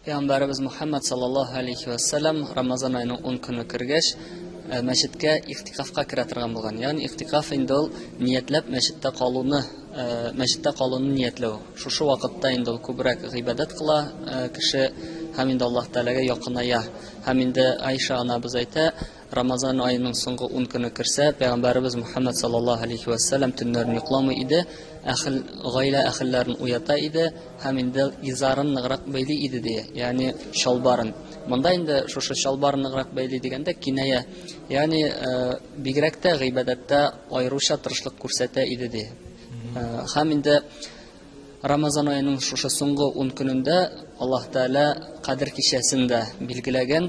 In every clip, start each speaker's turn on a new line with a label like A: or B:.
A: Пәйгамбәребез Мухаммад саллаллаһу алейхи ва саллям Рамазан аеның 10 көне кергәч, э, мәчеткә ихтикафка керә торган булган. Ягъни ихтикаф инде ул ниятләп мәчеттә калуны, э, мәчеттә калуны ниятләү. Шушы вакытта инде ул күбрәк гыйбадәт кыла э, кеше һәм инде Аллаһ Тәгаләгә якыная. Һәм инде Айша анабыз әйтә, Рамазан аеның соңгы ун көне керсә, пәйгамбәребез Мухаммад саллаллаһу алейхи ва саллям төннәрен йокламый иде, әхел гаилә әхелләрен уята иде һәм инде изарын ныграк бәйли иде ди, ягъни чалбарын. Монда инде шушы чалбарын ныграк бәйли дигәндә киная, ягъни э, бигрәк тә гыйбадәттә аеруча тырышлык күрсәтә иде ди. Э, һәм инде Рамазан аеның шушы соңгы ун көнендә Аллаһ Тәгалә Кадер кичәсен дә билгеләгән.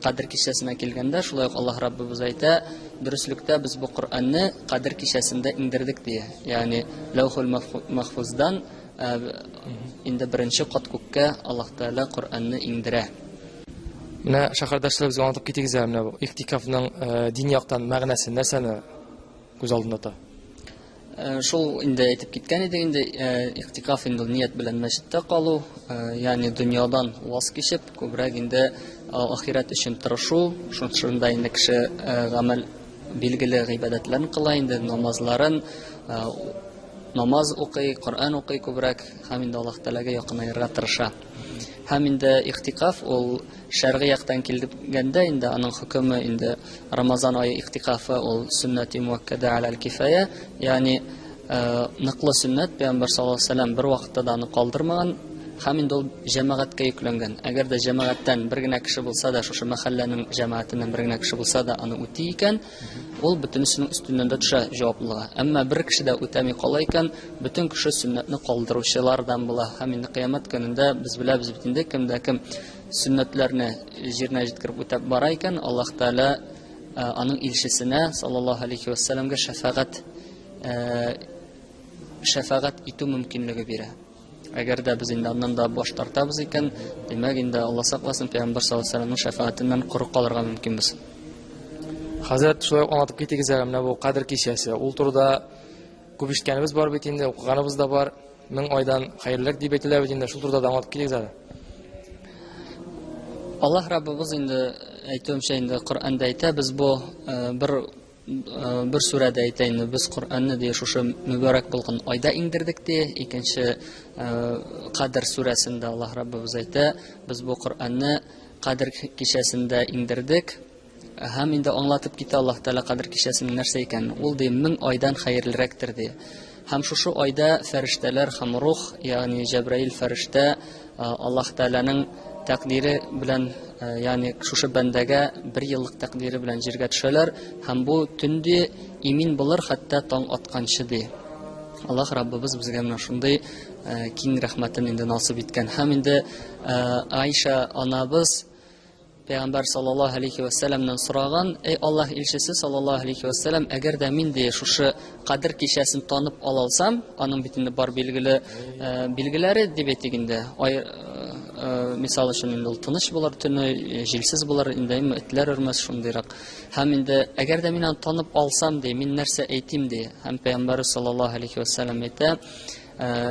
A: Кадер кичәсенә килгәндә, шулай ук Аллаһ Раббыбыз әйтә, дөреслектә без бу Коръәнне Кадер кичәсендә иңдердек дия. Ягъни Ләүхул Мәхфуздан э, инде беренче кат күккә Аллаһ Тәгалә Коръәнне иңдерә. Менә шәһәрдәшләр безгә аңлатып китегез әле менә бу ихтикафның э, дин яктан мәгънәсен нәрсәне күз алдында тота? Э, шул инде әйтеп киткән идек инде э, иктикаф инде ният белән мәчеттә калу э, ягъни дөньядан ваз кичеп күбрәк инде ахирәт өчен тырышу шунда инде кеше гамәл билгеле гыйбадәтләрен кыла инде намазларын намаз укый коръән укый күбрәк һәм инде аллаһ тәгаләгә якынаерга тырыша һәм инде иктикаф ул Шәргый яктан килгәндә инде аның хөкеме инде Рамазан ае иктикафы ул сөннәти муаккада аль кифая, ягъни э, ныклы сөннәт пәйгамбәр саллаллаһу алейһи вәсәлләм бер вакытта да аны калдырмаган һәм инде ул җәмәгатькә йөкләнгән. Әгәр дә җәмәгатьтән бер генә кеше булса да, шушы мәхәлләнең җәмәгатеннән бер генә кеше булса да аны үти икән, Ул бөтенесенең өстеннән дә төшә җаваплыга. Әмма бер кеше дә үтәми кала икән, бөтен кеше сөннәтне калдыручылардан була. Һәм инде кыямәт көнендә без беләбез бит инде, кем дә кем сөннәтләрне җиренә җиткереп үтәп бара икән, Аллаһ Тәгалә э, аның илчесенә саллаллаһу алейхи ва сәлламгә шәфәгать э, шәфәгать итү мөмкинлеге бирә. Әгәр дә без инде аннан да баш тартабыз икән, димәк инде Алла сакласын, пәйгамбәр саллаллаһу алейһи вәсәлләмнең шәфаатеннән коры калырга мөмкинбез. Хәзрәт шулай аңлатып китегез әле менә бу кадер кичәсе. Ул турыда күп ишеткәнебез бар бит инде, укыганыбыз да бар. Мең айдан хәерлерәк дип әйтелә бит инде. Шул турыда да аңлатып китегез әле. Аллаһ Раббыбыз инде әйтүемчә инде Коръәндә әйтә, без бу э, бер Бер сүрәдә әйтә инде, без Коръәнне ди шушы мөбарәк булган айда иңдердек ди. Икенче Кадр сүрәсендә Аллаһ Раббыбыз әйтә, без бу Коръәнне Кадр кичәсендә иңдердек. Һәм инде аңлатып китә Аллаһ Тәгалә Кадр кичәсенең нәрсә икәнен. Ул ди, мең айдан хәерлерәктер ди. Һәм шушы айда фәрештәләр һәм рух, ягъни Җәбраил фәрештә Аллаһ Тәгаләнең тәкъдире белән, э, ягъни шушы бәндәгә бер еллык тәкъдире белән җиргә төшәләр һәм бу төнде имин булыр хәтта таң атканчы ди. Аллаһ Раббыбыз безгә менә шундый э, киң рәхмәтен инде насып иткән. Һәм инде э, Айша анабыз Пәйгамбәр саллаллаһу алейхи ва сәламнән сораган, "Эй Аллаһ илчесе саллаллаһу алейхи ва сәлам, әгәр дә мин дә шушы кадер кичәсен танып ала алсам, аның бит инде бар билгеле э, билгеләре дип әйтик инде. Ай, э, э, мисал өчен инде ул тыныч булыр төне, э, җилсез булыр, инде әмма этләр өрмәс шундыйрак. Һәм инде әгәр дә мин аны танып алсам ди, мин нәрсә әйтим ди? Һәм Пәйгамбәр саллаллаһу алейхи ва сәлам әйтә, э,